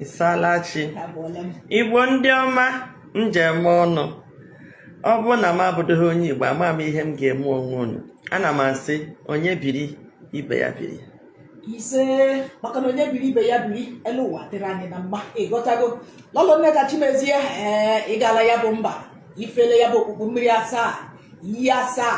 Isalachi Igbo ndị ọma njem ọnụ ọ bụrụ na m abụdịghị onye Igbo ama m ihe m ga-eme onwe unu ana m asị onye biri ibe ya biri isee maka na onye biri ibe ya biri elu ụwa dịrị anyị na mma ịghọtago lọlọ Nneka Chimezie ee ịgala ya bụ mba ifele ya bụ okpukpu mmiri asaa iyi asaa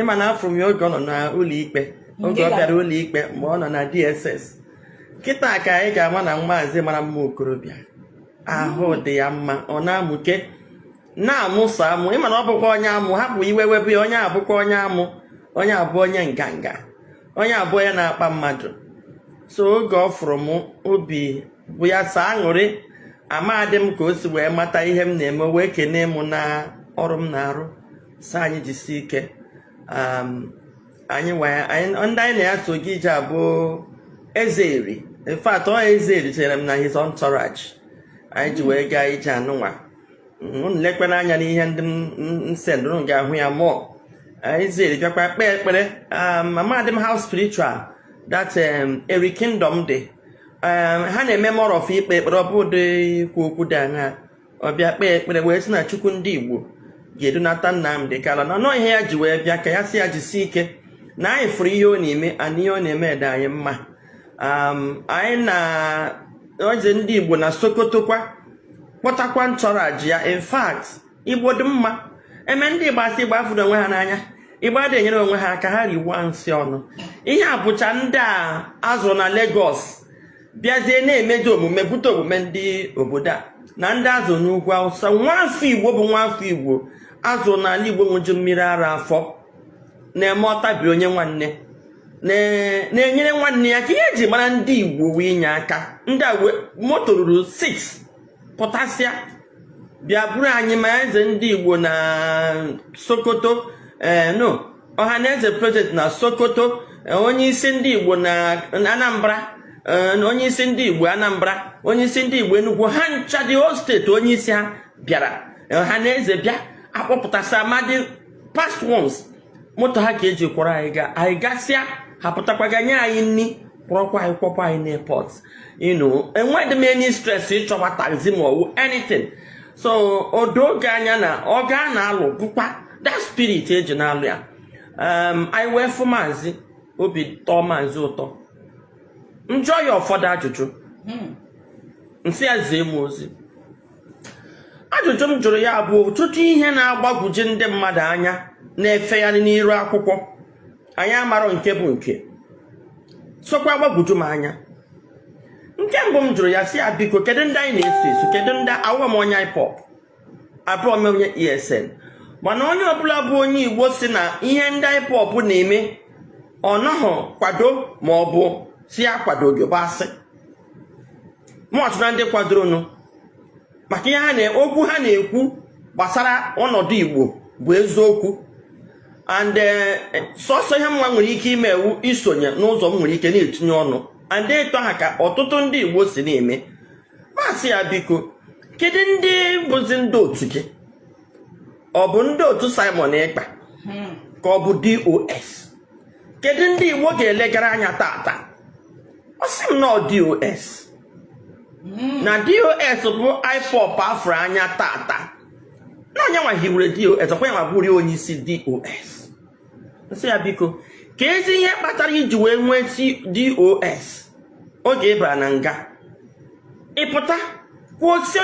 ịma na afụrụ m ya oge ọ nọ n'ụlọ ikpe oge ọ bịara ụlọ ikpe mgbe ọ nọ na DSS kịta ka anyị ga-ama na maazị mara mma okorobịa ahụ hmm. dị ya mma ọ na-amụke na-amụ sọ amụ ịma na ọ bụkwa onye amụ hapụ iwe webe ya onye abụkwa onye amụ onye abụ onye nganga onye abụ onye na-akpa mmadụ so oge ọ fụrụ m obi bụ ya sọ aṅụrị amadị m ka o si wee mata ihe m na-eme wee kenee m na ọrụ m na-arụ sị anyị jisi ike um, anyị ndị anyị na ya so gaa ije a bụ Eze Eri in fact ọ Eze Eri chere m na his entourage anyị ji wee gaa ije anụnwa unu lekwanụ anya n'ihe ndị m sendụ unu ga-ahụ ya mụọ Eze Eri bịakwa kpee ekpere amadị m how spiritual that um, eri kingdom dị um, ha na-eme more of ikpe ekpere ọ bụdị ikwu okwu dị anya ọ bịa kpee ekpere wee sị na chukwu ndị igbo ga-edunata Nnamdi Kanu na ọ ihe ya ji wee bịa ka ya sị ya jisi ike na anyị fụrụ ihe ọ na-eme na ihe ọ na-eme dị anyị mma anyị na eze ndị Igbo na Sokoto kwa kpọtakwa entourage ya in fact Igbo dị mma e mee ndị Igbo asị Igbo afụdọ onwe ha n'anya Igbo adịghị enyere onwe ha aka ha riwa nsị ọnụ ihe a bụcha ndị a a zụrụ na Lagos bịazie na-emezi omume bute omume ndị obodo a na ndị a zụ n'ugwu awụsa nwa afọ igbo bụ nwa afọ igbo a zụ n'ala igbo ṅụju mmiri ara afọ na-eme ọtabi onye nwanne na-enyere nwanne ya aka ihe eji mara ndị igbo wụ inye aka ndị a moto ruru 6 pụtasịa bịa buru anyị ma eze ndị igbo na sokoto ee eh, no Ọhanaeze president na sokoto eh, onye isi ndị igbo na anambra eh, na onye isi ndị igbo anambra onye isi ndị igbo enugwu ha ncha the whole state onye isi ha bịara Ọhanaeze bịa akpọpụtasịa ma ndị past ones moto ha ka eji kwọrọ anyị gaa anyị gasịa ha pụtakwaga nye anyị nri kwọrọkwa anyị kwọkwa anyị n'airport you know enweghị m any stress ịchọwa taxi ma ọ wụ anything so o doo gị anya na ọgụ a a na-alụ bụkwa that spirit eji na-alụ ya um, anyị wee fụ maazị obi tọọ maazị ụtọ m jụọ ya ụfọdụ ajụjụ m sị ya zie m ozi ajụjụ m jụrụ ya bụ ọtụtụ ihe na-agbagwoju ndị mmadụ anya na-efegharị n'iru akwụkwọ anyị amarọ nke bụ nke sokwa agbagwoju m anya nke mbụ m jụrụ ya sị ya biko kedu ndị anyị na-eso eso kedu ndị awụrọ m onye IPOB abụrọ m onye ESN mana onye ọbụla bụ onye Igbo sị na ihe ndị IPOB na-eme ọ nọghị kwado ma ọ bụ sị ya akwadoghị bụ asị mụ so na ndị kwadoronụ maka ihe ha okwu ha na-ekwu gbasara ọnọdụ igbo bụ eziokwu and eh, sọsọ ihe m nwa nwere ike ime wụ isonye n'ụzọ m nwere ike na-etinye ọnụ and ito ha ka ọtụtụ ndị igbo si na-eme m asị ya biko kedu ndị bụzi ndị otu gị ọ bụ ndị otu simon ekpa hmm. ka ọ bụ dos kedu ndị igbo ga-elegara anya taata ọ sị m na ọ dos hmm. na dos bụ ipop a fụrụ anya taata na ọ ya nwa hiwere dos ọkwa ya nwa bụrụ onye isi dos m sị ya biko keezi ihe kpatara i ji wee nweesị dos oge ị bara na nga ị pụta kwuo sị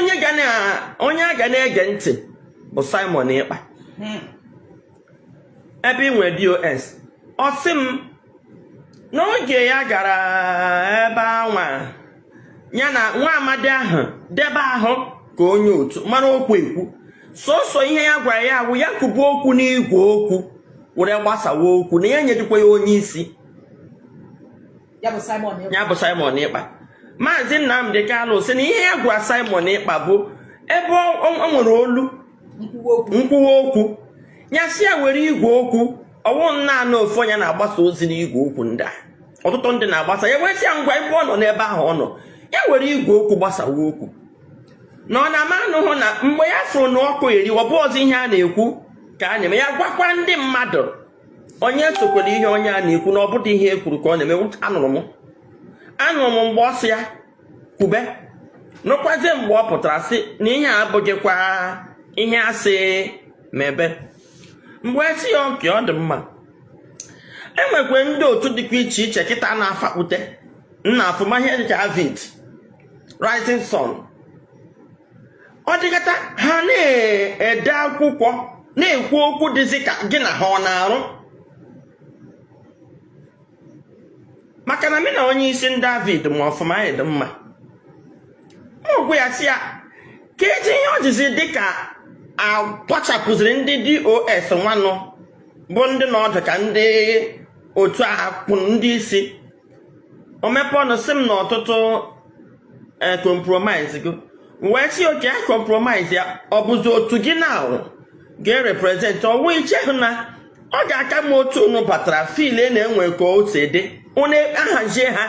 onye a ga na-ege ntị bụ simon ekpa hmm. ebe i nwere dos ọ sị m n'oge ya gara ebe anwa ya na nwa amadi ahụ debe ahụ ka onye otu mara okwu ekwu sọsọ ihe ya gwara ya bụ ya kwuba okwu n'igwe okwu were gbasawa okwu na ya enyedịkwa ya onye isi ya bụ Simon Ekpa maazị nnamdị kanụ sị na ihe ya gwara simon ekpa bụ ebe o nwere olu nkwuwa okwu ya sị ya were igwe okwu ọ wụrọ naanị ofu onye na-agbasa ozi n'igwe okwu ndị a ọtụtụ ndị na-agbasa ya wee sị ya ngwa ebe ọ nọ n'ebe ahụ ọ nọ ya were igwe okwu gbasawa okwu na ọ na-ama anụhụ na mgbe ya fụrụ na ọkụ eri ọ bụrọzi ihe a na-ekwu ka a na-eme ya gwakwa ndị mmadụ onye esokwala ihe onye a na-ekwu na ọ bụdị ihe e kwuru ka ọ na-eme anụrụ m anụrụ m mgbe ọ sị ya kwube nụkwazie mgbe ọ pụtara sị na ihe a abụghịkwa ihe a sị mebe m wee sị ya okay ọ dị mma e nwekwe ndị otu dịkwa iche iche kịta na-afakpute m na-afụ ụmụ ihe dịka avid rising sun ọ dịkata ha na-ede akwụkwọ na-ekwu okwu dịzi ka gị na ha ọ na-arụ maka na mị na onye isi ndị avid ma ọfụma anyị dị mma agwa ya sị ya kedụ ihe o jizi dị ka akwachapụziri ndị dos nwanụ bụ ndị nọdụ ka ndị otu a kwụ ndị isi o mepe ọnụ sị m na ọtụtụ compromise go wee sị okay a compromise ya ọ bụzi otu gị na ga-erepresent ọ wụ i chehụ na ọ ga-aka mma otu unu batara file na-enwe ka o si dị unu ahazie ha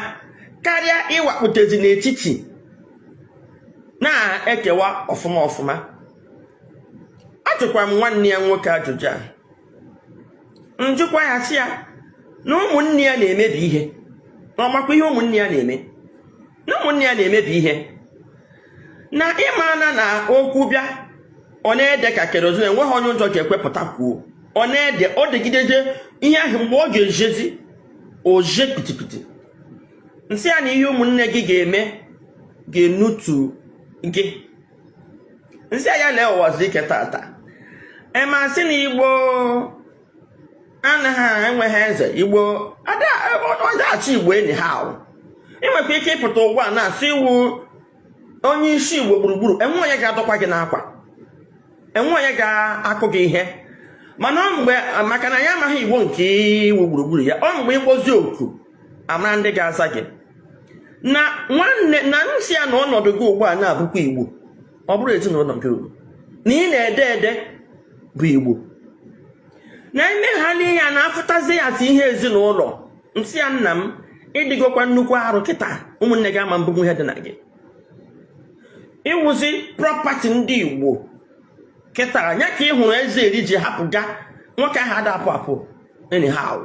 karịa ịwakpụtezi n'etiti na-ekewa ọfụma ọfụma ajụkwa m nwanne ya nwoke ajụjụ a njụkwa ya sị ya na ụmụnne ya na-emebi ihe na ọ makwa ihe ụmụnne ya na-eme na ụmụnne ya na-emebi ihe na ị ma na okwu bịa ọ na-ede ka kerozin enweghị onye ụjọ ga-ekwepụta kwuo ọ na-ede o degidede ihe ahụ mgbe ọ ga-ezezi o ze kpitikpiti nsị ya na ihe ụmụnne gị ga-eme ga-enutu gị nsị ya lee ụwazuruike tata ị ma sị na igbo anaghị enweghị eze igbo ada achị igbo anyhow i nwekwa ike ịpụta ugbu a na-asị ị wụ onye isi igbo gburugburu enwe onye ga-adọkwa gị n'akwa enwe onye ga-akụ gị ihe mana ọ mgbe maka na ya amaghị igbo nke ị wụ gburugburu ya ọ mgbe ị kpọzi oku a mara ndị ga-aza gị na nwanne na nsị ya na ọnọdụ gị ugbu a na-abụkwa igbo ọ bụrọ ezinụlọ nke unu na ị na-ede ede bụ igbo na i mehala ihe a na-afụtazi ya as ihe ezinụlọ nsị ya nna m ị dịgokwa nnukwu arụ kịta ụmụnne gị ama ebunwu ihe dị na gị ị wụzi property ndị igbo kịta ya ka ị hụrụ eze eri ji hapụ ga nwoke ahụ ada apụ apụ anyhow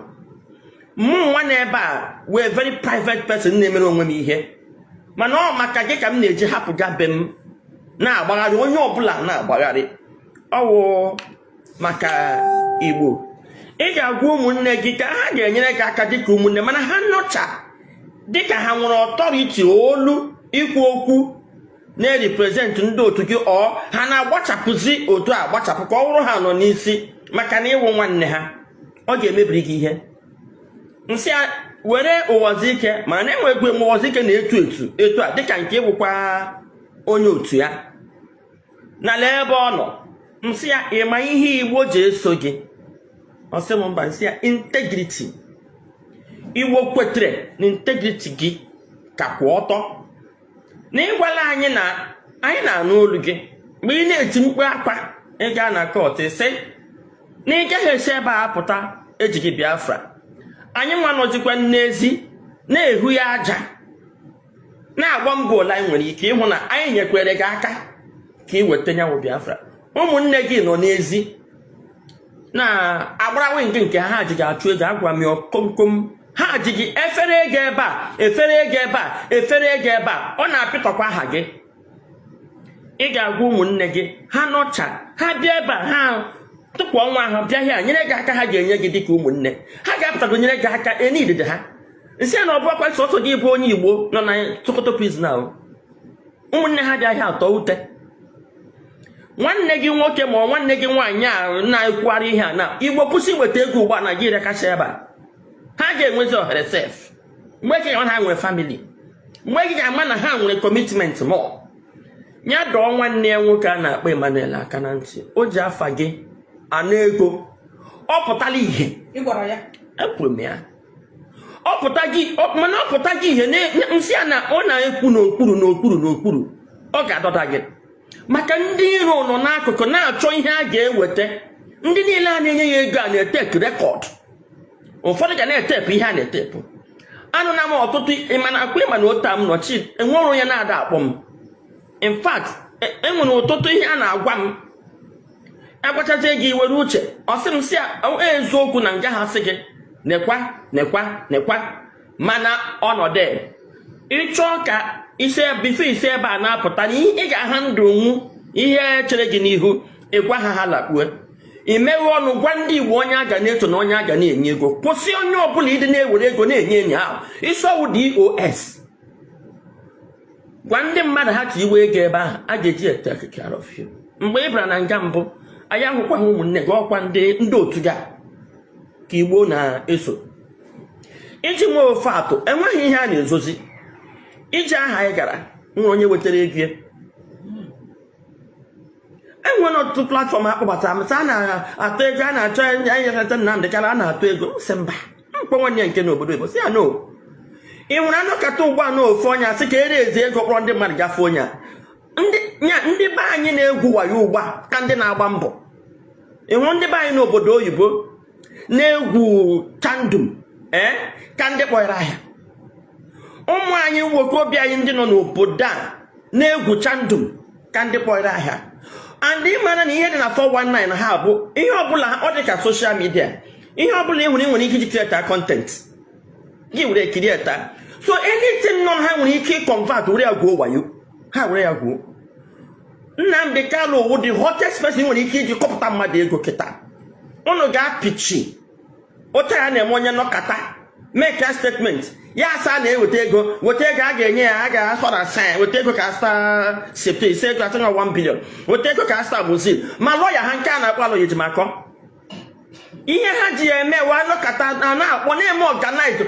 mụ nwa nọ ebe a wụ very private person na-emere onwe m ihe mana ọ maka gị ka m na-eji hapụ ga be m na-agbagharị onye ọbụla na-agbagharị ọ wụ maka igbo ị ga-agwa ụmụnne gị ka ha ga-enyere gị aka dịka ụmụnne mana ha nọcha dịka ha nwere authority olu ikwu okwu na-represent ndị otu gị or ha na-agbachapụzi otu a gbachapụ ka ọ bụrụ ha nọ n'isi maka na ị wụ nwanne ha ọ ga-emebiri gị ihe nsị ya were ụwazuruike ma na enwe egwe m ụwazuruike na-etu etu etu a dịka nke ị wụkwa onye otu ya na lee ebe ọ nọ nsị ya ị ma ihe igbo ji eso gị ọ sị m mba nsị ya integrity igbo kwetere na integrity gị ka kwụ ọtọ na ịgwala anyị na anyị na-anụ olu gị mgbe ị na-eti mkpu akwa ị gaa na kọt sị na ị gaghị esi ebe a pụta ejighị biafra anyị nwa nọzikwa n'ezi na-ehu ya aja na-agba mbọ ole anyị nwere ike ịhụ na anyị nyekwere gị aka ka ị weta nya wụ biafra ụmụnne gị nọ n'ezi na-agba round nke ha ji gị achụ ego agwa m ya komkom ha ji gị efere ego ebe a efere ego ebe a efere ego ebe a ọ na-apịtọkwa aha gị ị ga-agwa ụmụnne gị ha nọcha ha bịa ebe a ha tụpụ onwe ha bịa hịa nyere gị aka ha ga-enye gị dịka ụmụnne ha ga-apụtago nyere gị aka enye idide ha m sị na ọ bụkwa sọsọ gị bụ onye igbo nọ na sokoto prison ahụ ụmụnne ha bịa hịa atọ ute nwanne gị nwoke ma nwanne gị nwaanyị a na-ekwugharị ihe a na igbo kwụsị iweta ego ugbu a naijiria kacha ebe a ha ga-enwezi ohere sef mgbe gị ga-ama na ha nwere famili mgbe gị ga-ama na ha nwere kọmitment mọ ya dọọ nwanne ya nwoke a na-akpọ Emmanuel aka na ntị o ji afa gị ana ego ọ pụtala ihe ekwuru m ya ọ pụtaghị ọ- mana ọ pụtaghị ihe na- na- m sị ya na ọ na-ekwu n'okpuru n'okpuru n'okpuru ọ ga-adọda gị maka ndị iro nọ n'akụkụ na-achọ ihe a ga-eweta ndị niile a na-enye ya ego a na-etep rekọd ụfọdụ ga na-etepụ ihe a na-etepụ anụna m ọtụtụ ịmana akwa ịma na ota m nọchi enwere onye na-ada akpọ m in fact e- enwere ọtụtụ ihe a na-agwa m agwachazie gị ị were uche ọ sị m si e, eziokwu na nga ha sị gị nekwa nekwa nekwa mana ọnọdụ ịchọọ ka isi bifọ ị si ebe a na-apụta na ị ga-aha ndụ nwu ihe chere gị n'ihu ịgwa ha ha lakpue imeghe ọnụ gwa ndị igbo onye a ga na-eto na onye a ga na-enye ego kwụsị onye ọbụla ịdị na-ewere ego na-enye enyi ahụ ị sị ọ wụ DOS gwa ndị mmadụ ha ka iwe ego ebe ahụ a ga-eji take care of you mgbe ị bara na nga mbụ anyị ahụkwaghị ụmụnne gị ọkwa ndị ndị otu ga ka igbo na-eso iji nwee ofe atụ enweghị ihe a na-ezozi iji aha anyị gara nwere onye wetara ego ya enwere ọtụtụ platfọm akpọbata m a na-atụ ego a na-achọ enyekọta Nnamdị Kanu a na-atụ ego sị mba m kpọọ nwanne ya nke nọ obodo oyibo sị ya no ị hụrụ a nọkata ugbu a na ofu onye a sị ka e raise ego kpọrọ ndị mmadụ gafe onye a ndị be anyị na-egwu wayo ugbu a ka ndị na-agba mbọ ị hụrụ ndị be anyị n'obodo oyibo na-egwu kandum ee eh, ka ndị kpọrọ ahịa ụmụ anyị nwokorobịa anyị ndị nọ n'obodo a na-egwu chandum ka ndị kpọrọ ahịa and ị mara na ihe dị na 419 ha bụ ihe ọbụla ọ dị ka social media ihe ọbụla ị nwere ị nwere ike iji kirieta content gị were kirieta so anything nọ ha nwere ike ịconvert were ya gwuo wayo ha were ya gwuo Nnamdi Kanu wụ the hottest person ị nwere ike iji kọpụta mmadụ ego kịta unu ga-apịchi otu ya na-eme onye nọkata make a statement ya asị na-eweta ego weta ego a ga-enye ya a ga-asọ na sin weta ego ka sta septe ise ego asị na 1 billion weta ego ka sta bụzi ma lọya ha nke a na-akpọ Aloy Ejimakor ihe ha ji ya eme wa nọkata na-akpọ na-eme organize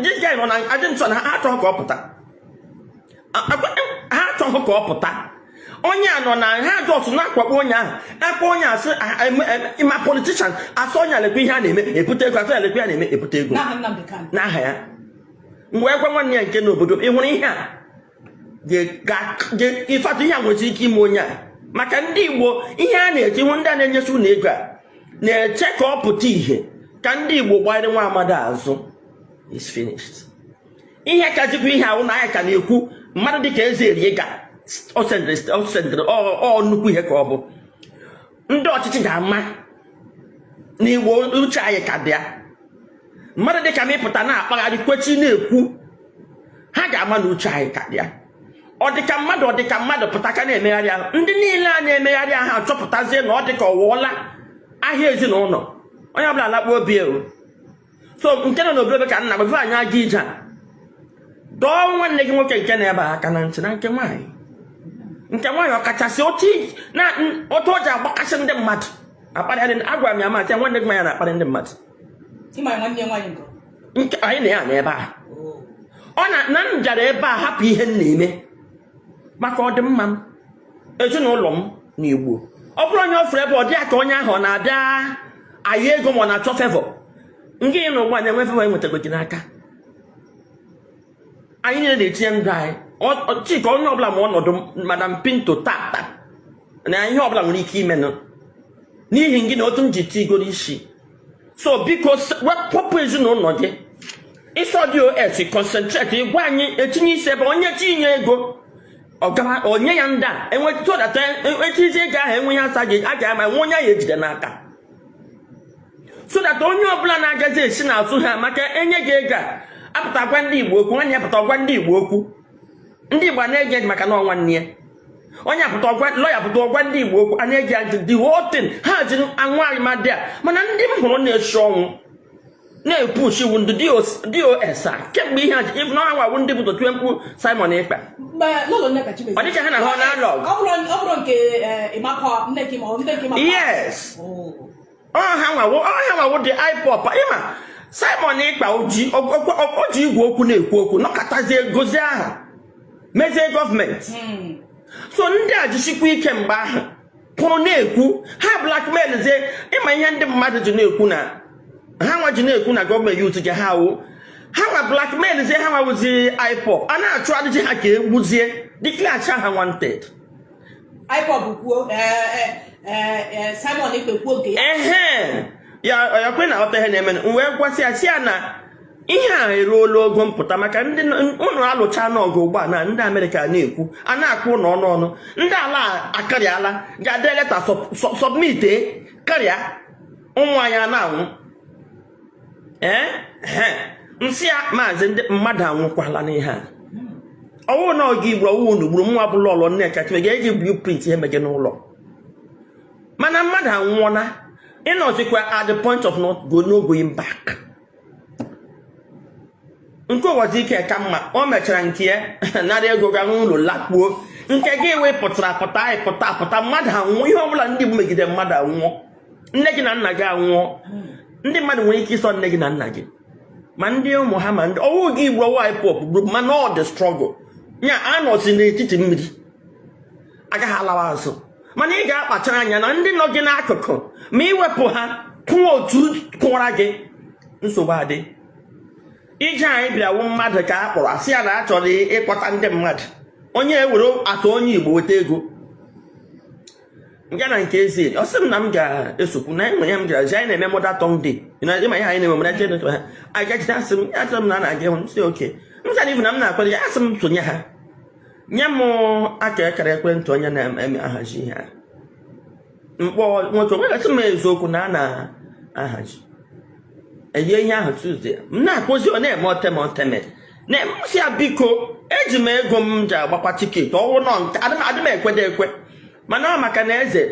this guy nọ na detention na ha achọghị ka ọ pụta ha achọghị ka ọ pụta onye a nọ na ha just na-akwakpo onye ahụ akpa onye asị ma politician asị onye lekwa ihe a na-eme ebute ego asị alekwa ya na-eme ebute ego n'aha ya mgbe ekwe nwanne ya nke n'obodo ị hụrụ ihe a ịfata ihe a nwere ike ime onye a maka ndị Igbo ihe a na-eji hụ ndị a na-enyesi unu ego a na-eche ka ọ pụta ihe ka ndị Igbo gbanyere nwa amadi azụ is finished ihe ka jikwa ihe ahụ na anyị ka na-ekwu mmadụ dịka eze erie ga ọ nnukwu ihe ka ọ bụ ndị ọchịchị ga-ama na Igbo uche anyị ka dị ya mmadụ dịka m ịpụta na-akpagharị kwechi na-ekwu ha ga-ama na uche anyị ka dị ya ọ dịka mmadụ ọ dịka mmadụ pụta ka na-emegharị ahụ ndị niile a na-emegharị ahụ achọpụtazie na ọ dịka ọ wụọla ahịa ezinụlọ onye ọbụla alakpuo obi ewu so nke nọ n'obodo ka nna gbafe anyị aga ije a dọọ nwanne gị nwoke nke nọ ebe a aka na ntị na nke nwaanyị nke nwaanyị ọkachasị otu o ji agbakasị ndị mmadụ akparị agwara m ya maka nwanne gị nwaanyị na-akparị ndị mmadụ nke anyị na ya na ebe a oh. ọ na m bịara ebe a hapụ ihe m na-eme maka ọdịmma m ezinụlọ m na igbo ọ bụrụ onye ọ fụrụ ebe ọ dị ya ka onye ahụ ọ na-abịa ayọ ego ma ọ na-achọ favour nke ị na ụgbọ na-enwe favour enwetago gị n'aka anyị niile na-etinye ndụ anyị chika onye ọbụla ma ọnọdụ madam pinto tata na ihe ọbụla nwere ike imenụ n'ihi gị na otu m ji tigoro isi so biko wepụpụ ezinụlọ gị ịsọ DOS concentrate ịgwa anyị etinye isi ebe onye tinye ego onye ya ndị a enwetụdata echizi ego ahụ enweghị asa gị a ga-ama nwe onye ahụ ejide n'aka so that onye ọbụla na-agazi esi n'azụ ha maka enye gị ego a apụta gwa ndị igbo okwu nwanne ya pụta gwa ndị igbo okwu ndị igbo na-ege maka na ọ nwanne ya onye apụta ọgwa lọya pụta ọgwa ndị igbo okwu anya eji ajụ the whole thing ha ji anwụ arịmadị a mana ndị m hụrụ na-esi ọnwụ na-epushi wụ ndị dos a kemgbe ihe a ji ịbụ na ha nwa wụ ndị bu tie mkpu simon ekpa ọ dịcha ha na ha na-alụ ọgụ yes oh. ọ ha nwa wụ ọ ha nwa wụ the ipob ịma simon ekpa o ji o ji igwe okwu na-ekwu okwu nọkatazie gozie aha mezie gọọmenti hmm. so ndị a jisikwa ike mgbe ahụ pụrụ na-ekwu ha blackmail zie ịma ihe ndị mmadụ ji na-ekwu na ha nwa ji na-ekwu na gọọmenti yut ji ha wụ ha nwa blackmail zie ha nwa wụzi ipob a na-achụ adịji ha ka e gbuzie declare ha wanted IPOB kwuo Simon Ekpa kwuo nke ya ehe ya ọkwa ị na-aghọta ihe na-eme m wee gwasị ya sị ya na ihe a eruola ogo mpụta maka na unu alụchaana ọgụ ugbu a na ndị amerịka na-ekwu a na-akụ ụlọ ọnụ ọnụ ndị ala akarịala gaa dee leta sọbmite karịa ụmụ anyị na-anwụ ee m sị ya maazị ndị mmadụ anwụkwala n'ihe a ọ wụ na onye igbo ọ wụ unu gburu nwa ọbụla ọlọ nne kacha ga-eji blueprint ihe meje n'ụlọ mana mmadụ anwụọla ị nọzikwa at the point of not go no going back nke uwazuruike ka mma o mechara nke ya nara ego ga n'ụlọ lakpuo nke gị wee pụtara pụta anyị pụta pụta mmadụ anwụọ ihe ọbụla ndị igbo megide mmadụ anwụọ nne gị na nna gị anwụọ ndị mmadụ nwere ike ịsọ nne gị na nna gị ma ndị ụmụ ha ma ndị ọ wụ gị igwe ọ wụ ipob group mana the struggle ya anọzi n'etiti mmiri agaghị alawa azụ mana ị ga-akpachara anya na ndị nọ gị n'akụkụ ma i wepụ ha kwụọ otu kụwara gị nsogbu adị ije anyị bịawa mmadụ ka a kpọrọ a sị ya na a chọrọ ịkpọta ndị mmadụ onye ewere atụ onye igbo weta ego m gaa na nke eze ọ sị m na m ga-esokwu na enwe ya m gara ji anyị na-eme mother tongue day ịma ihe anyị na-eme mọda jee ha anyị gachite asị m ya chọrọ m na na-aga ịhụ m sị oke m chara ivu na m na-akwado ya asị m sonye ha nye m akara ekwentị onye na-eme ahazi ihe a m kpọọ nwoke o wee gwasị m eziokwu na a na-ahazi enye ihe ahụ tuesday m na-akpọzi ọ na-eme oteme oteme na m sị ya biko eji m ego m ji agbakwa tiketi ọ wụ nọ nke adị m ekwede ekwe mana ọ maka na eze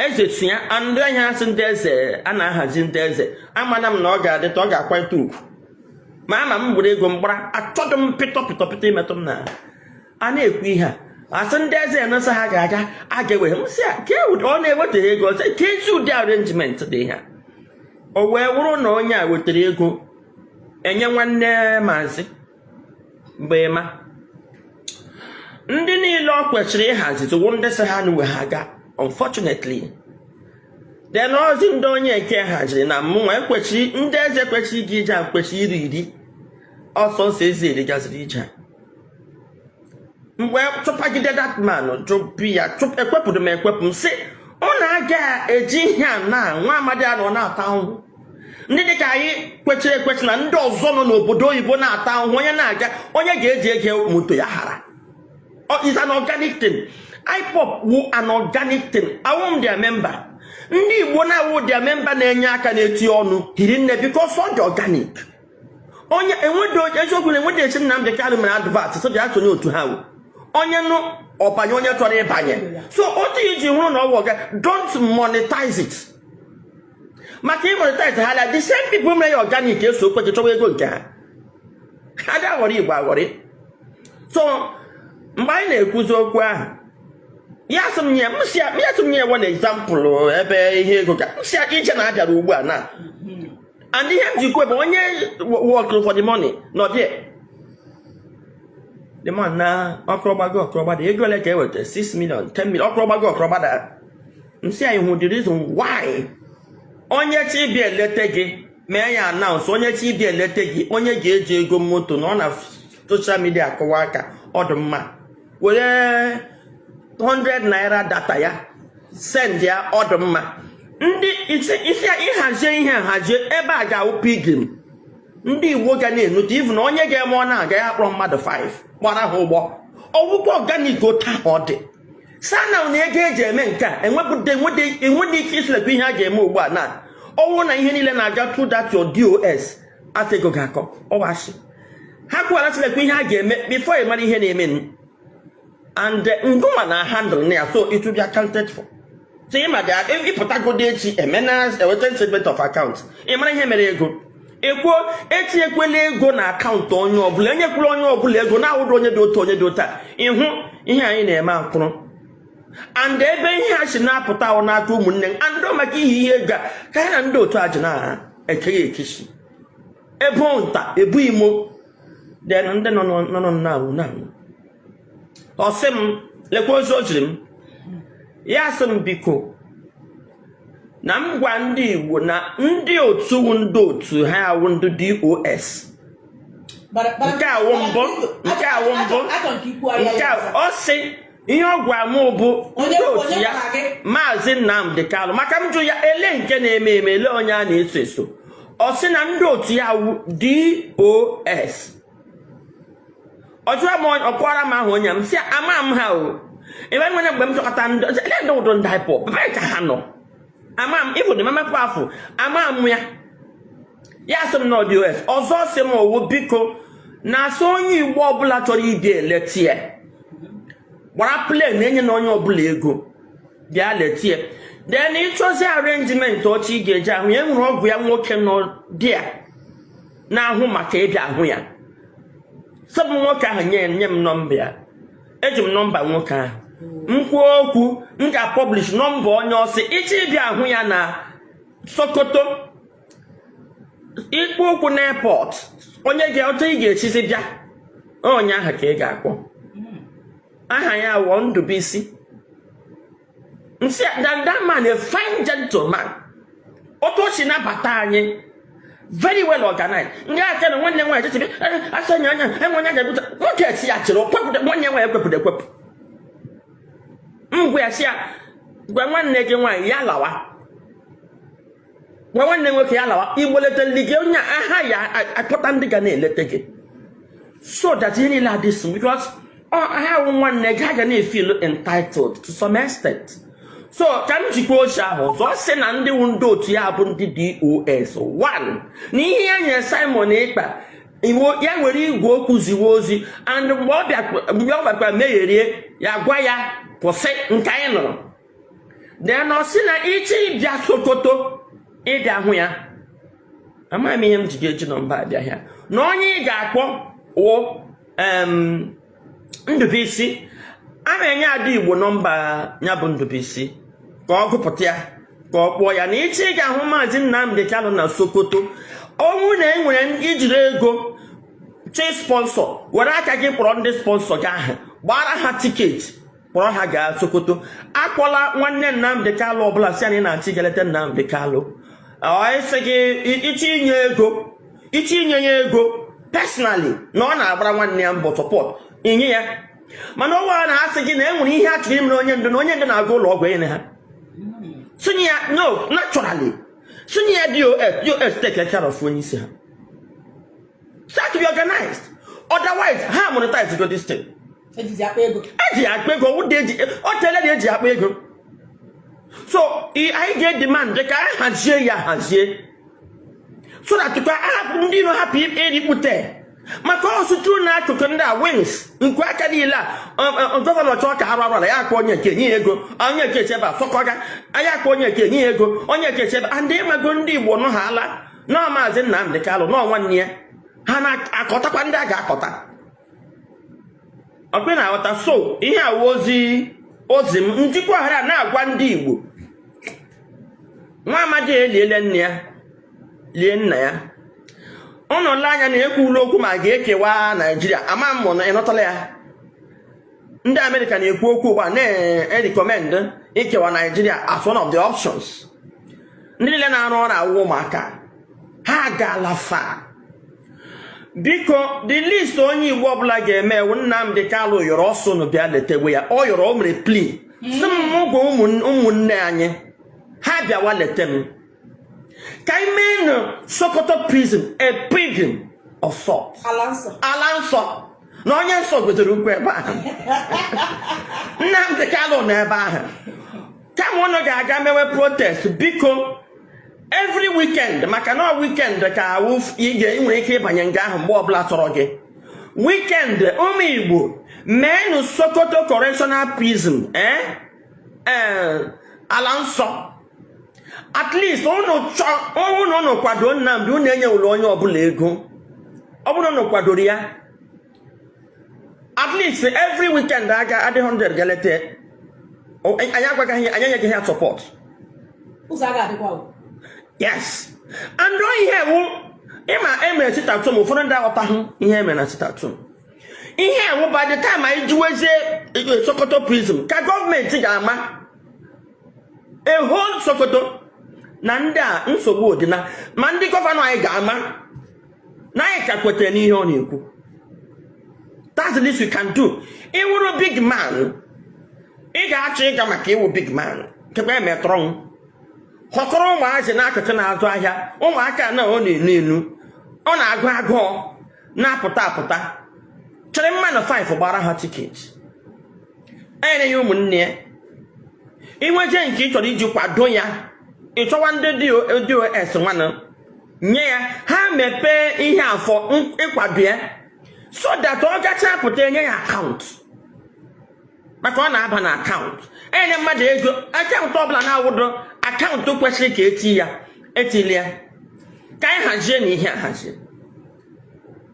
eze sị ya ndị ahịa asị ndị eze a na-ahazi ndị eze amana m na ọ ga-adịta ọ ga-akwanyeta ugwu ma ama m gburu ego m gbara achọghị m pịtọ pịtọ pịtọ imetụ m na a na-ekwu ihe a asị ndị eze enesa ha ga-aga a ga-ewere m sị ya ka e ọ na-ewetara ego ọzọ ka ezi ụdị arrangement dị ha o wee wụrụ na onye a wetara ego enye nwanne maazị mgbe ma ndị niile ọ kwesịrị ịhazi tụwo ndị sị ha na uwe ha ga unfortunately then ozi ndị onye nke haziri na mụnwa ekwesịrị ndị eze kwesịrị iji ije a kwesịrị iri iri ọsọ ọsọ eze eri gaziri ije mgbe chụpagide that man chụpụ ya ekwepụrụ m ekwepụ m sị ọ na-aga eji ihe a na nwa amadi a nọ na-ata ahụhụ ndị dịka anyị kwechiri ekwechi na ndị ọzọ nọ n'obodo oyibo na-ata ahụhụ onye na-aga onye ga-eji ego moto ya hara is an organic thing IPOB wu an organic thing awụ m their member ndị igbo na-awụ their member na-enye aka na-eti ọnụ hiri nne because ọ dị organic onye enwedị eziokwu na enwedị esi Nnamdị Kanụ mere advert sị bịa sonye otu ha onye nụ ọ banye onye chọrọ ịbanye so otu iji hụrụ na ọ wụ ọga don't monetize it maka ị monetize ha na the same people mere ya organic eso okweche chọwa ego nke ha ha dị aghọrị igbo aghọrị so mgbe anyị na-ekwuzi okwu ahụ ya sị m nye one example ebe ihe ego ka m si ya ije na abịara ugbu a na and ihe m ji kwuo bụ onye work for the money nọ there the man na ọkụrọgbago ọkụrọgbada ego ole ka e weta 6 million 10 million ọkụrọgbago ọkụrọgbada m sị anyị hụ the reason why onye chi ịbịa elete gị mee ya announce onye chi ịbịa elete gị onye ga-eji ego moto na ọ na social media akụwa aka ọ dị mma were 100 naira data ya send ya ọ dị mma ndị isi ịhazie ihe hazie ebe a ga-awụ pilgrim ndị igbo ga na-enute ivu na onye ga-eme ọ na-aga ya kpọrọ mmadụ 5 gbara ha ụgbọ ọ wụkwa organic otu ahụ ọ dị sana na ego eji eme nke a enwedị ike ịsị lekwa ihe a ga-eme ugbu a na ọ wụ na ihe niile na-aga through that your DOS afọ ego ga-akọ ọwa asị ha kwuwara sị lekwa ihe a ga-eme before ị mara ihe na-eme nụ and eh, ngụnwa na handle ya so it will be accounted for so ịma dị a- ị pụtagodi echi emena eweta statement of account ị mara ihe mere ego ekwuo etinyekwela ego na account onye ọbụla enyekwala onye ọbụla ego na-awụdụ onye dị otu onye dị otu a ịhụ ihe anyị na-eme akwụrụ and ebe ihe a si na-apụta wụ n'aka ụmụnne m and maka ihe ihe ego a ka ya na ndị otu a ji na-aha ekeghị ekechi ebu nta ebu imo ndị nọ nọ na awụ na awụ ọ sị m lekwa ozi o jiri m ya sị m biko na m gwa ndị igbo na ndị otu ndị otu ha awụ ndị DOS nke awụ mbụ nke awụ mbụ nke ọ sị ihe ọ gwara m bụ ndị otu ya maazị Nnamdi Kanu maka m jụ ya ele nke na-eme eme ele onye a na-eso eso ọ sị na ndị otu ya wụ DOS ọ jụọ m ọkwara m ahụ onye m sị ama m ha o ebe e nwere mgbe m chọkọta ndị ndu ndị IPOB ka ha nọ ama m ụdị Emma Powerful ama m ya ya sị m na ọ DOS ọzọ sị m ọ wụ biko na ọ sị onye igbo ọbụla chọrọ ịbịa eleta ya gbara plane enyena onye ọbụla ego bịa leta ya then ị chọzi arrangement otu ị ga-eji ahụ ya e nwere ọgọ ya nwoke nọ ebe a na-ahụ maka ịbịa ahụ ya so ọ bụ nwoke ahụ nye nye m nọmba ya eji m nọmba nwoke ahụ m kwuo okwu m ga-apublish nọmba onye ọ sị ị chọọ ịbịa ahụ ya na Sokoto ị kpọọ ụkwụ na airport onye ga-ahụ otu ị ga-esizi bịa onye ahụ ka ị ga-akpọ aha ya wụ Ndubuisi m sị that, that man a fine gentleman otu o si nabata anyị very well organized ndị aka na nwanne nwaanyị jechebe asa nya anya enwe onye ga-ebute nwoke esi ya chịrị ọkwepụta nwanne nwaanyị ekwepụta ekwepụ ngwa ya sị ya gwa nwanne gị nwaanyị ya lawa gwa nwanne nwoke ya lawa Igbo leta ndị gị onye aha ya akpọta ndị ga na-eleta gị so that ihe niile adị sm because ha wụ nwanne gị ha ga na-efeel entitled to some extent so ka m zikwa ozi ahụ ọzọ ọ sị na ndị wụ ndị otu ya bụ ndị DOS one na ihe ya nyere Simon Ekpa wụ ya were igwe okwu ziwe ozi and mgbe ọ bịakwa- mgbe ọ bịakwa megherie ya gwa ya kwụsị nke anyị nụrụ then ọ sị na ị chọọ ịbịa Sokoto ịbịa hụ ya amaghị m ihe m ji ga-eji nọmba abịa ya na onye ị ga-akpọ wụ Ndubuisi aga m enye Ada Igbo nọmba ya bụ Ndubuisi ka ọ gụpụta ya ka ọ kpọọ ya na ị chọọ ịga ahụ maazị Nnamdi Kanu na Sokoto ọ wụ na e nwere i jiri ego chọ isponsor were aka gị kpọrọ ndị sponsor gị ahụ gbaara ha ticket kpọrọ ha gaa Sokoto akpọla nwanne Nnamdi Kanu ọbụla sị anyị na-achọ ịga eleta Nnamdi Kanu ọ sị gị ị chọ inye ego ị chọ inye ya ego personally na ọ na-agbara nwanne ya mbọ support inye ya mana ọ wụrụ na a sị gị na e nwere ihe a chọrọ imere onye ndu na onye ndu na-aga ụlọ ọgwụ enye ha sị nye ya no naturally sị nye ya DOS DOS take care of onye isi ha start to be organized otherwise ha monetize go this thing eji akpa ego o tele eji akpa ego so anyị ga-edemand ka a hazie ya hazie so that ndị iro hapụ erikpute maka ọsụtụ na akụkụ ndị a wings nke aka niile a gọvanọ chọọ ka arụ arụ ya akpọ onye nke nye ego onye nke chebe afọkọga ya akpọ onye nke nye ego onye nke chebe and ị mago ndị Igbo nọ ha ala nọọ Maazị Nnamdi Kalụ nọọ nwanne ya ha na-akọtakwa ndị a ga-akọta ọkwa ị na-aghọta so ihe a wụ ozi m njikwa ọhara na-agwa ndị Igbo nwa amadi eliele nne ya lie nna ya ụnụ lee anya na ekwuwala okwu ma ga-ekewa Naijiria ama m ma ị nụtala ya ndị Amerịka na-ekwu okwu ugbu a na-erecommend ikewa Naijiria as one of the options ndị niile na-arụ ọrụ a wụ ụmụaka ha gaala far biko the least onye Igbo ọbụla ga-eme wụ Nnamdi Kanu yọrọ ọ sị unu bịa letewe ya ọ yọrọ o mere plea sị m gwa ụmụnne anyị ha bịawa lete m ka anyị meenụ Sokoto prison a pilgrim of sort ala nsọ na onye nsọ gwedoro ụkwụ ebe ahụ Nnamdi Kanu nọ ebe ahụ kama unu ga-aga mewe protest biko every weekend maka na weekend ka awụ ị ga- ị nwere ike ịbanye nga ahụ mgbe ọbụla tọrọ gị weekend ụmụ Igbo meenụ Sokoto correctional prison eh? Eh, ala nsọ at least ọ wụrụ na unu kwado Nnamdi unu enyewụla onye ọbụla ego ọ bụrụ unu kwadoro ya at least every weekend a ga-adị 100 ga-eleta anyị agwagaghị anyị enyeghị ha support yes and ihe ọ wụ ị ma e mere sit-at-home ụfọdụ ndị aghọtaghị ihe e mere na sit-at-home ihe ọ wụ by the time anyị juwezie e, Sokoto prison ka gọọmenti ga-ama a whole Sokoto na ndị a nsogbu dị ma ndị gọvanọ anyị ga-ama na anyị ka kwetere n'ihe ọ na-ekwu that's the least we can do ị wụrụ big man ị ga-achọ ịga maka ị wụ big man kekwa emetọrọ m họkọrọ ụmụazị n'akụkụ na-azụ ahịa ụmụaka na ọ na-enu enu ọ na-agụ agụ na-apụta apụta chịrị mmadụ 5 gbara ha tiketi enyene ya ụmụnne ya i nweje nke ị chọrọ iji kwado ya ị chọwa ndị DOS nwanụ nye ya ha mepee ihe a for ịkwado ya so that ọ gachaa pụta e nye ya akaụntụ maka ọ na-aba na akaụntụ enyene mmadụ ego akaụntụ ọbụla na-awụdo akaụntụ kwesịrị ka eti ya etili ya ka anyị hazienụ ihe a ahazi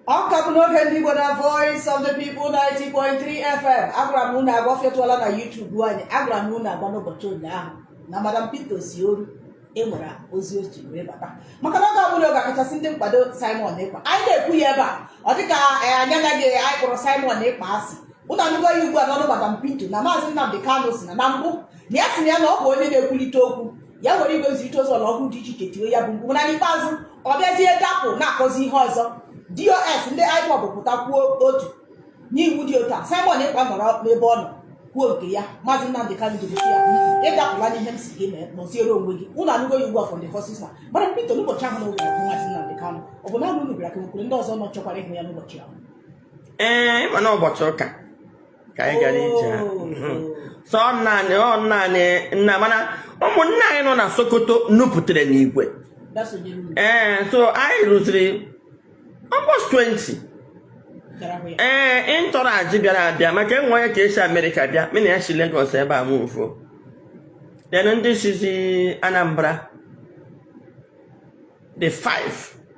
ọ ka bụ n'oge ndị Igbo na Voice of the People 90.3 FM agwara m unu agwa fetụọla na YouTube anyị agwara m unu agwa n'ụbọchị ụnyaahụ na Madam Pinto Osioru enwere ozi o ji wee bata maka na ọ ga-abụrụ ọkachasị ndị nkwado Simon Ekpa anyị na-ekwu ya ebe a ọ dịka anyị anaghị anyị kpọrọ Simon Ekpa asị unu anụgo ya ugbu a n'ọnụ Madam Pinto na Maazị Nnamdi Kanu sị na na mbụ na ya si na ya na ọ bụ onye na-ekwulite okwu ya were igwe nzirịta ozi ọlọrọ ọhụụ dị iche iche tiwe ya bụ mkpu mana n'ikpeazụ ọ bịazie dapụ na-akọzi ihe ọzọ dos ndị ipob pụta kwuo otu n'iwu dị otu a simon ekpa nọrọ n'ebe ọ nọ kwuo nke ya maazị nnamdị kanụ sịrị ya ị dapụla n'ihe m sị gị mee nọziere onwe gị unu anụgo ya ugbu a from the horse's mouth madam pinto n'ụbọchị ahụ na oge ahụ maazị nnamdị kanụ ọ bụ naanị unu bịara ka e nwekwara ndị ọzọ nọ chọkwara ịhụ ya n'ụbọchị ahụ ee ịma na ụbọchị ụka ka anyị gara ije ahụ so nna anyị ọ nna anyị nna mana ụmụnna anyị nọ na sokoto nupụtara n'igwe ee so anyị ruziri almost 20 ee entourage bịara abịa maka e nwee onye ka esi amerịka bịa mụ na ya si Lagos ebe a move then ndị sizi anambra dị five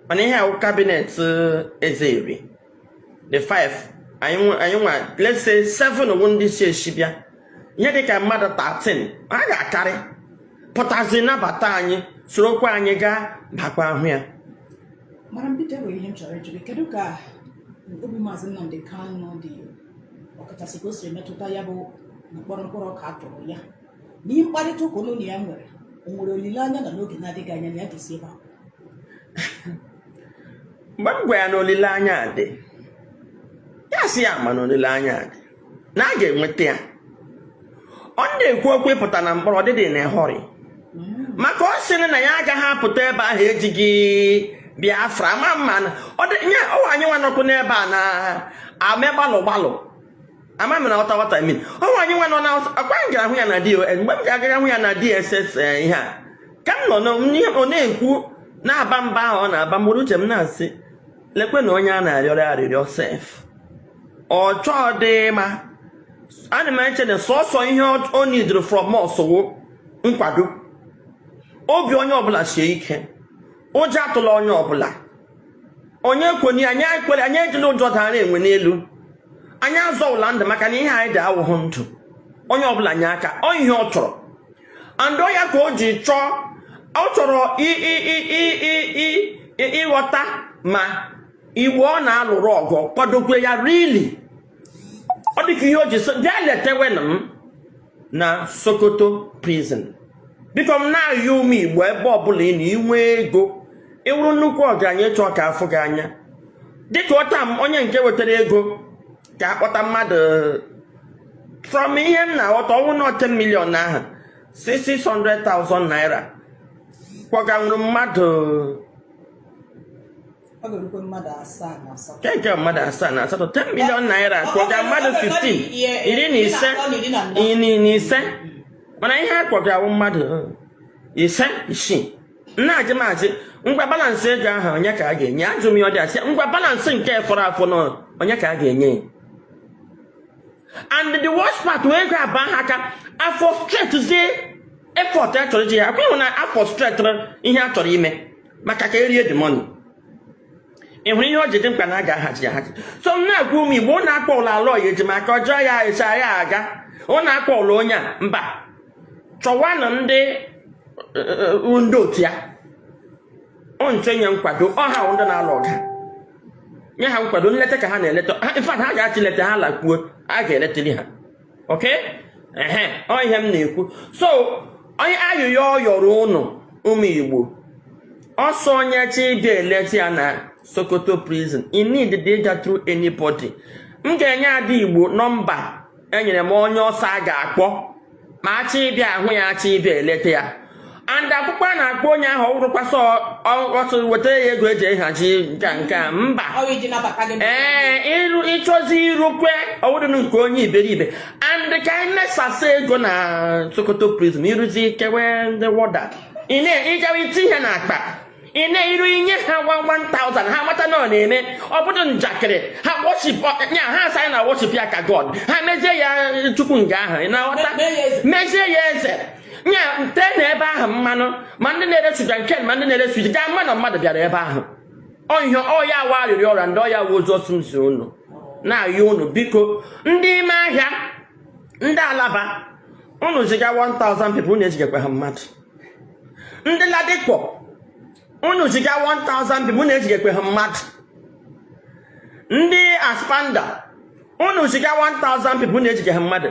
mana ihe wụ cabinet eze nri dị five anyị nwe- anyị nwa let's say seven wụ ndị si esi bịa ihe dị ka mmadụ 13 a ga-akarị pụtazi nabata anyị sorokwa anyị gaa bakwaa hụ ya madam pinto nwere ihe m chọrọ ịjụ gị kedu ka obi maazị nnamdị kanụ dị ọkachasị ka o siri metụta ya bụ mkpọrọ mkpụrụ ọka a tụrụ ya na ihe mkparịta ụka unu na ya nwere o nwere olileanya na n'oge na-adịghị anya na ya ga-esi ebe a mgbe m gwa ya na olileanya a dị ya sị ya ma na olileanya a dị na a ga-enweta ya ọ na-ekwu okwu ịpụta na mkpọrọ ọ dịghị in a hurry maka ọ sịrị na ya agaghị apụta ebe ahụ ejighi biafra ma mma na ọ dị nye ọ wụ anyị nwa nọkwa n'ebe a na-eme gbalụ gbalụ ama m ma ị ghọta what I mean ọ wụ anyị nwa nọ na-akwa m gara hụ ya na dos mgbe m ga-agara hụ ya na dss eh, ihe a ka m nọ na- n'ihe ọ na-ekwu na-aba mba ahụ ọ na-aba mgbụrụ uche m na-asị lekwe na onye a na-arịọrọ arịrịọ sef ọ chọghị ịma ana m eche na sọsọ ihe ọ- ọ needirị from us wụ nkwado obi onye ọbụla sie ike ụjọ atụla onye ọbụla onye kwenye anyị ekwela anyị ejila ụjọ dara enwe n'elu anyị azọwụla ndụ maka na ihe anyị dị awụghụ ndụ onye ọbụla nye aka ọ ihe ọ chọrọ and ọ ya ka o ji chọọ ọ chọrọ ịghọta ma igbo ọ na-alụrụ ọgụ kwadokwa ya really ọ dịka ihe o ji sị bịa letewenụ m na sokoto prison biko m na-ayọ ụmụ igbo ebe ọbụla ị nọ i nwee ego ị wụrụ nnukwu ọgaranya ị chọọ ka a fụ gị anya dịka ọta m onye nke wetara ego ka a kpọta mmadụ from ihe m na-aghọta ọ wụrụ na 10 million ahụ 600,000 naira kpọganwuru mmadụ ọ ga-erukwe mmadụ asaa na asatọ Nke nke mmadụ asaa na asatọ 10 million naira kpọga mmadụ 15 iri na ise iri na anọ. iri na ise mana ihe a kpọgara wụ mmadụ uh, ise isii na-ajụ m asị ngwa balance ego ahụ onye ka a ga-enye ajụ m ya ọ dị asị ngwa balance nke fọrọ afọ na onye ka a ga-enye ya and the worst part wụ ego abaa ha aka a frustratezie effort a chọrọ iji ya akwụghị na a frustratịrị ihe a chọrọ ime maka ka e rie the money ị hụrụ ihe o ji dị mkpa na a ga-ahazi ya ahazi so m na-agwa ụmụ igbo unu akpọla aloy ejimakor jọọ ya eso ya aga unu akpọla onye a mba chọwanụ ndị uh, ndị otu ya unu chọọ inye nkwado ọ ha wụ ndị na-alụ ọgụ nye ha nkwado nleta ka ha na-eleta ha in fact ha ga-achị leta ha lakwuo a ga-eletiri ha oke ehe ọ ihe m na-ekwu so ọ wụ ayịyọ ọ yọrọ ụnụ ụmụ igbo ọ sị onye chọọ ịbịa eleta ya na sokoto prison ị needighị ịga through anybody m ga-enye ada igbo nọmba e nyere m onye ọ sị a ga-akpọ ma a chọọ ịbịa ahụ ya a chọọ ịbịa eleta ya and ọkpụkpọ a na-akpọ onye ahụ ọ wụghịkwa sị ọtụ weta ya ego e ji ehazi nke a nke a mba ee ị chọzi irukwe ọ wụdịnụ nke onye iberibe and ka anyị na-esasa ego na sokoto prison i ruzie i kewe ndị warder ị na-ehichawa iti ihe na akpa ị na-eru i nye ha 1000 ha mata na ọ na-eme ọ bụghị njakịrị ha worship ya ha asị na worship ya ka god ha mezie ya chukwu nga ahụ ị na-aghọta mezie ya eze nya nte na ebe ahụ mmanụ ma ndị na-ere sugar cane ma ndị na-ere suya ga-ama na mmadụ bịara ebe ahụ ihe a ọ ya wụ arịrịọ ọ rịọrọ and ọ ya wụ ozi ọ sị m zi unu na-ayọ unu biko ndị ime ahịa ndị alaba unu ziga 1000 people unu ezigakwahụ mmadụ ndị ladipo unu ziga 1000 people unu ezigekwehụ mmadụ ndị aspamda unu ziga 1000 people unu ezigehụ mmadụ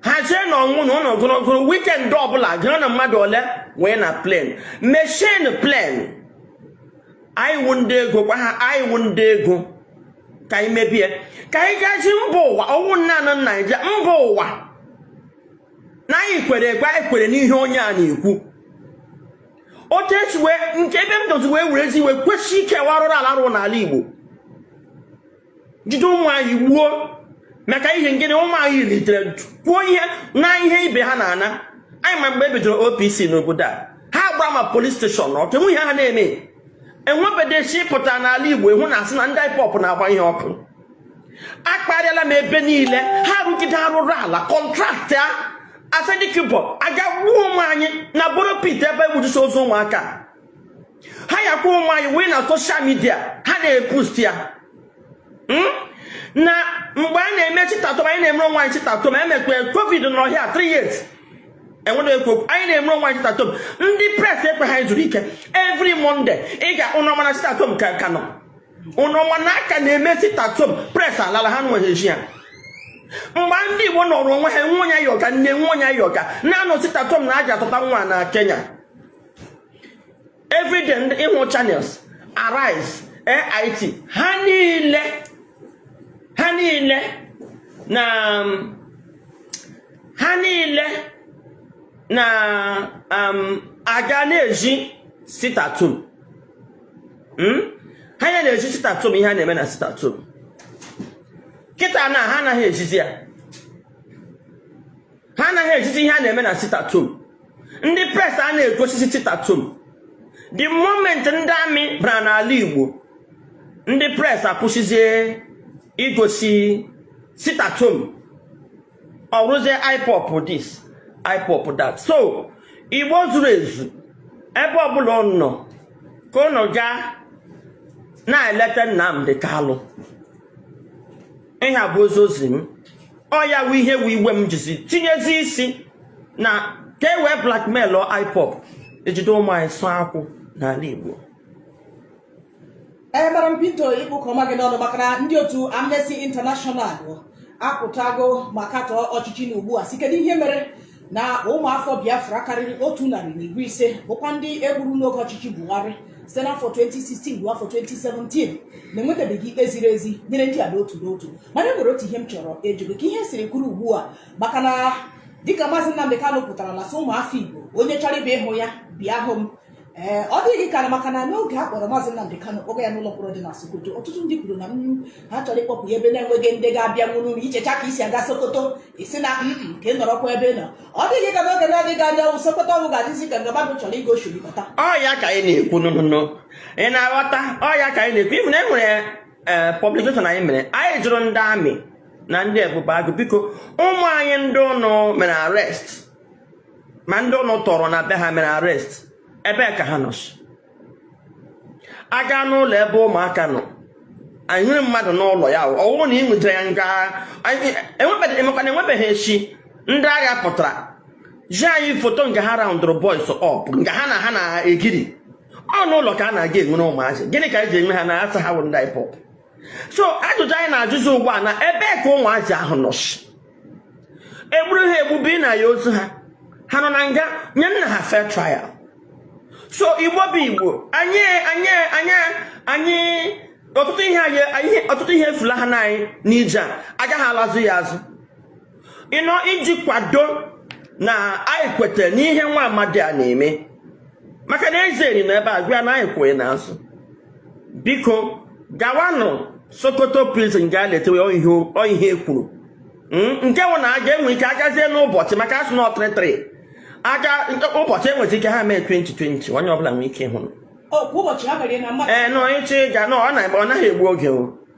hazienụ onwe unu group group weekend ọbụla gụọnụ mmadụ ole weenụ plane meshienụ plane anyị wụ ndị ego gwa ha anyị wụ ndị ego ka anyị mebie ka anyị gosi mba ụwa ọ wụghị naanị naijiria mba ụwa na anyị kwere ekwe anyị kwere n'ihe onye a na-ekwu otu esi wee nke ebe m dozi wee were ezi iwe kwesị ike wụ arụrụ ala a rụrụ n'ala Igbo jide ụmụ anyị gbuo maka ihe gịnị ụmụ anyị litere kwuo ihe na ihe ibe ha na-ana anyị ma mgbe e bidoro OPC n'obodo a ha gbara ma police station ọkụ enweghị ihe ha na-eme enwebedechi pụta n'ala Igbo ịhụ na a sị na ndị IPOB na-agba ihe ọkụ akparịala m ebe niile ha rụgide arụrụ ala kọntraktịa Asari Dokubo a gaa gbuo ụmụ anyị na borrow pit ebe egbujusi ozu ụmụaka ha yakwa ụmụ anyị wee na social media ha na-epost ya hmm? na mgbe a na-eme sit at home anyị na-emere onwe anyị sit at home emekwe covid n'ọhịa 3 years enwere ekwu okwu anyị na-eme onwe anyị sit at home ndị press ekweghị anyị zuru ike every Monday ị ga unu ma na sit at home ka ka nọ ụnụ ma na a ka na-eme sit at home press alala ha nweghị ezi ya mgbe ndị Igbo nọrọ onwe ha nwe onye yoga nne nwe onye yoga na-anọ sit at home na aja atụta nwa na Kenya everyday ndị ịhụ Channels Arise AIT ha niile ha niile na ha niile na um, a ga na-ezi sit at home hmm? ha ya na-ezi sit at home ihe a na-eme na sit at home kịta na ha anaghị ezizi ya ha anaghị ezizi ihe a na-eme na sit at home ndị press a na-egosizi sit at home the moment ndị army bara n'ala Igbo ndị press akwụsịzie igosi sit at home ọ bụrụzie IPOB this IPOB that so Igbo zuru ezu ebe ọbụla unu nọ ka unu gaa na-eleta Nnamdi Kalụ ihe a bụ ozi ozi m ọ ya wụ ihe wụ iwe m jizi tinyezi isi na ka e wee blackmail IPOB e jide ụmụ anyị sụọ akwụ n'ala Igbo ebara m Peter ịkpụ ụka ọma gị n'ọnụ maka na ndị otu Amnesty International apụtago ma katọọ ọchịchị nọ ugbu a sị kedu ihe mere na ụmụafọ Biafra karịrị otu narị na iri ise bụkwa ndị e gburu n'oge ọchịchị Buhari site n'afọ 2016 ruo afọ 2017 na enwetabeghị ikpe ziri ezi nyere ndị a n'otu n'otu mana e nwere otu ihe m chọrọ ịjụ gị ka ihe siri kwụrụ ugbu a maka na dịka maazị Nnamdi Kanu pụtara na-asị ụmụafọ Igbo onye chọrọ ịbịa ịhụ ya bịa hụ m ee ọ dịghị ka na maka na n'oge a kpọrọ maazị Nnamdi Kanu kpọga ya n'ụlọ mkpọrọ dị na Sokoto ọtụtụ ndị kwuru na mm, ha chọrọ ịkpọpụ ya ebe na-enweghị ndị ga-abịa nwụrụ unu i chechaa ka e si aga Sokoto ị sị na mm, mm, ka ị nọrọkwa ebe ị nọ ọ dịghị ka n'oge na-adịghị anya ọnwụ Sokoto ọnwụ ga-adịzi ka nga mmadụ chọrọ ịga oshiri bata ọ ya ka anyị na-ekwu nụnụnụ ị na-aghọta ọ ya ka anyị na-ekwu ị fụ na e nwere ee publication anyị mere anyị jụrụ ndị army na ndị Ebubeagu biko ụmụ nwaanyị ndị unu mere arest ma ndị unu tọrọ na be ha mere arest ebe ka ha nọ a ga n'ụlọ ebe ụmụaka nọ anyị nwere mmadụ n'ụlọ ya ọ wụrụ na ị nwetara ya nga emekwana enwebeghị echi ndị agha pụtara zi anyị foto nke ha roundụrụ boys up nke ha na ha na-egiri ọ n'ụlọ ka a na-aga e nwere ụmụazị gịnị ka e ji enwe ha na a sị ha wụ ndị IPOB so ajụjụ anyị na-ajụzi ugbu a na ebe ka ụmụazị ahụ nọ e gburu ha egbu bunye anyị ozu ha ha nọ na nga nyenụ ha fair trial so Igbo bụ Igbo anyị anyị anyị anyị ọtụtụ ihe anyị ọtụtụ ihe efulahana anyị n'ije a a gaghị alazi ya azụ ịnọ iji kwado na anyị kweta n'ihe nwa amadi a na-eme maka na eze eri na ebe a gwa na anyị kwụ gị n'azụ biko gawanụ Sokoto prison gaa letewe ọ ihe e kwuru hmm? nke wụ na a ga-enwe ike agazie n'ụbọchị maka a sị na ọ three three aga ụbọchị e nwezi ike ha mee 20 20 onye ọbụla nwee ike ịhụ ee na onye chi ga na ọ naghị egbu oge o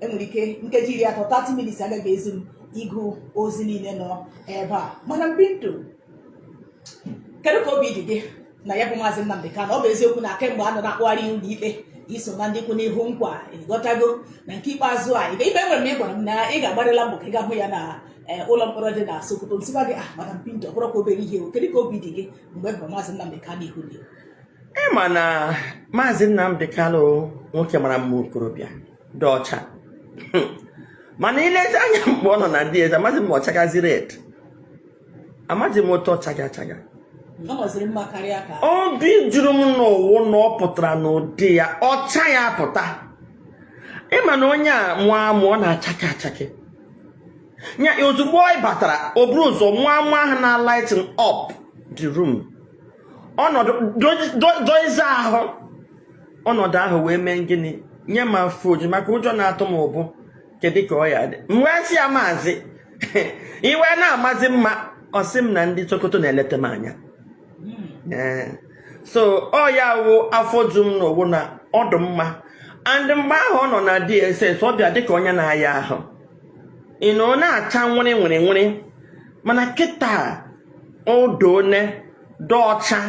e nwere ike nkeji iri atọ 30 minutes agaghị ezu m ịgụ ozi niile nọ ebe a mana mbi ndụ kedu ka obi dị gị na ya bụ maazị Nnamdi Kanu ọ bụ eziokwu na kemgbe a nọ na-akpụgharị ụlọ ikpe i so na ndị kwụ n'ihu ọ kwa ị ghọtago na nke ikpeazụ a ibe ibe nwere m ị gwara m na ị ga-agbarịla mbọ ka ị gaa hụ ya na eh, ụlọ mkpọrọ dị na Sokoto m sịkwa gị ah madam Pinto ọ bụrọkwa obere ihe o kedu ka obi dị gị mgbe ị hụrụ maazị Nnamdi Kanu ihu dị ị ma na maazị Nnamdi Kanu nwoke mara mma okorobịa dị ọcha mana i lezie anya mgbe ọ nọ na DSS amaghị m ma ọ chagazi red amaghị m otu ọ chaga achaga obi juru m n'ụwụ na ọ pụtara n'ụdị ya ọcha ya pụta ị ma na onye a mụọ amụ ọ na-achake achake ya ozugbo anyị batara o buru ụzọ mụọ amụ ahụ na-lighten up the room ọnọdụ doize ahụ ọnọdụ ahụ wee mee gịnị nye m afọ oju maka ụjọ na-atụ m mbụ kedu ka ọ ya-adị m wee sị ya maazị ị wee na-amazi mma ọ sị m na ndị Sokoto na-eleta m anya ee so ọ ya wụ afọ ju m n'owu na ọ dụ mma and mgbe ahụ ọ nọ na DSS ọ bịa dịka onye na-aya ahụ ọ nọ na-acha were were were mana kịta odone dị ọcha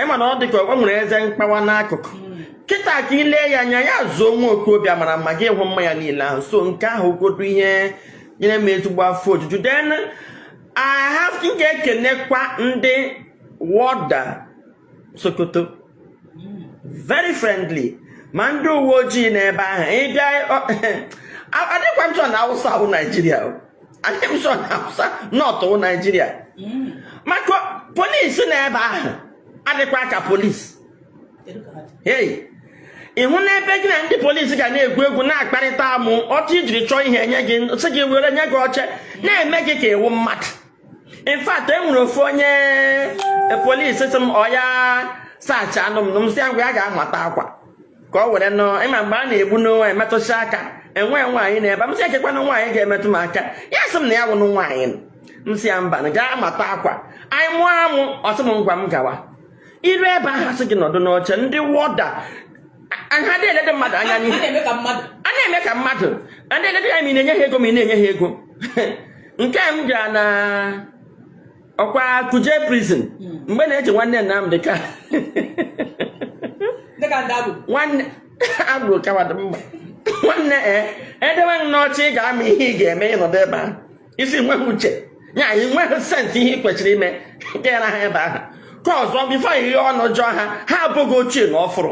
ị ma na ọ dị ka o nwere eze mkpawa n'akụkụ kịta ka ị lee ya anya ya zuo nwa okorobịa mara mma gị hụ mma ya niile ahụ so nke ahụ godu ihe nyere m ezigbo afọ ojuju then I have m ga-ekenekwa ndị warder Sokoto very friendly ma ndị uwe ojii n'ebe ahụ ịbịa adịkwa m sure na awụsa wụ naijiria adịghị m sure na awụsa North wụ naijiria maka polisi n'ebe ahụ adịkwa ka polisi hey ị hụ n'ebe gị na ndị polisi ga na-egwu egwu na-akparịta amụ otu i jiri chọọ ihe enye gị sị gị were nye gị oche na-eme gị ka ị wụ mmadụ in fact e nwere ofu onye e, polis sị m ọ ya search anụ m m sị ya ngwa ya gaa mata akwa ka o were nọ ị ma mgbe a na-egbu n'onwe emetụsị aka enwe nwaanyị nọ ebe m sị ekekwana nwaanyị ga-emetụ m aka ya sị m na ya wụnụ nwaanyị m sị ya mba na gaa mata akwa anyị mụọ amụ ọ sị m ngwa m gawa iru ebe ahụ a sị gị nọdụ n'oche ndị warder ha adị elede mmadụ anya n'ihu a na-eme ka mmadụ adị elede ya ma ị na-enye ha ego ma ị na-enye ha ego nke m gara na ọkwa kuje prison mgbe na-eji nwanne Nnamdị Kanụ nwanne agbụrụ kawadị mma nwanne e edewe m n'ọchị ị ga-ama ihe ị ga-eme ị nọdụ ebe ahụ isi nweghị uche ya anyị nweghị sense ihe ị kwesịrị ime gara ha ebe ahụ ka ọzọ before ị ghe ọnụ jụọ ha ha abụghị ochie na ọfụrụ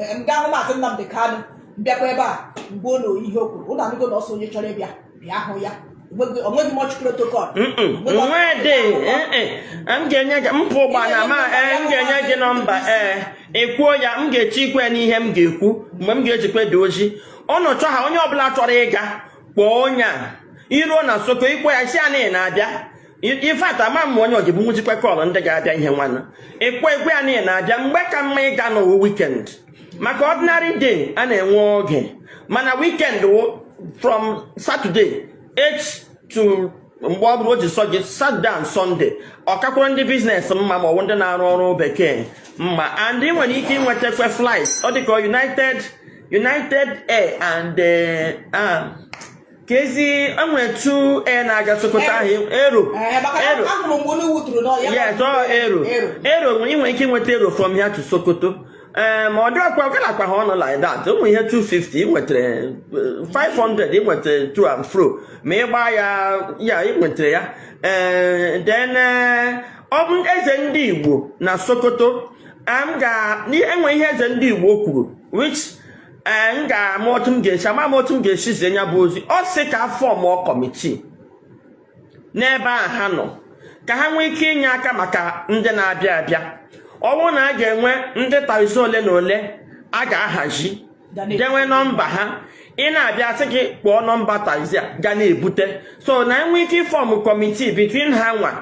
eh, ndị ahụ maazị Nnamdị Kanụ m bịakwa ebe a mgbe ụlọ ihe o kwuru ụlọ anụgo na ọ sị onye chọrọ ịbịa bịa hụ ya o nweghị much protocol nwede m ga-enye gị m pụọ ụgbana ma eh, m ga-enye gị nọmba ee eh, ekwuo ya m ga-eche ikwe n'ihe m ga-ekwu mgbe m ga-ejikwe dee ozi unu chọọ ha onye ọbụla chọrọ ịga kpọọ onye a i ruo na Sokoto ị kpọọ ya sị ya na ị na-abịa in fact ama m onye o jibu nwụzikwa call ndị ga-abịa ihe nwanne ekwe ekwe a niile na-abịa mgbe ka mma ịga na ọ wụ weekend maka ordinary day a na-enwe oge mana weekend wụ from Saturday eh to mgbe ọbụla o ji sọ gị Saturday and Sunday ọ kakwara ndị business mma ma ọ bụ ndị na-arụ ọrụ bekee mma and ị nwere ike ịnwetakwa flight ọ dịka United United Air and eh, ah, ka ezi enwe two air na-aga sokoto ahụ Aero Aero ya tọọ Aero Aero ị nwere ike ịnweta Aero from here to sokoto ee ma ọ dị agalakwa ha ọnụ like that ụmụ ihe 250 ị nwetara 500 ị nwetara to and fro ma ị gbaa ya ya ị nwetara ya ee then ọ bụ eze ndị igbo na sokoto m ga enwe ihe eze ndị igbo kwuru which ee m ga-ama otu m ga-esi ama m otu m ga-esi zie ya bụ ozi ọ sị ka a form committee n'ebe a ha nọ ka ha nwee ike inye aka maka ndị na-abịa abịa ọ bụrụ na a ga-enwe ndị taxi ole na ole a ga-ahazi dewe nọmba ha ị na-abịa a sị gị kpọọ nọmba taxi a ga na-ebute so na e nwere ike ịform committee between ha nwa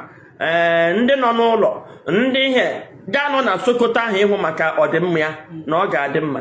ee ndị nọ n'ụlọ ndị ihe ga-anọ na sokoto ahụ ịhụ maka ọdịmma ya na ọ ga-adị mma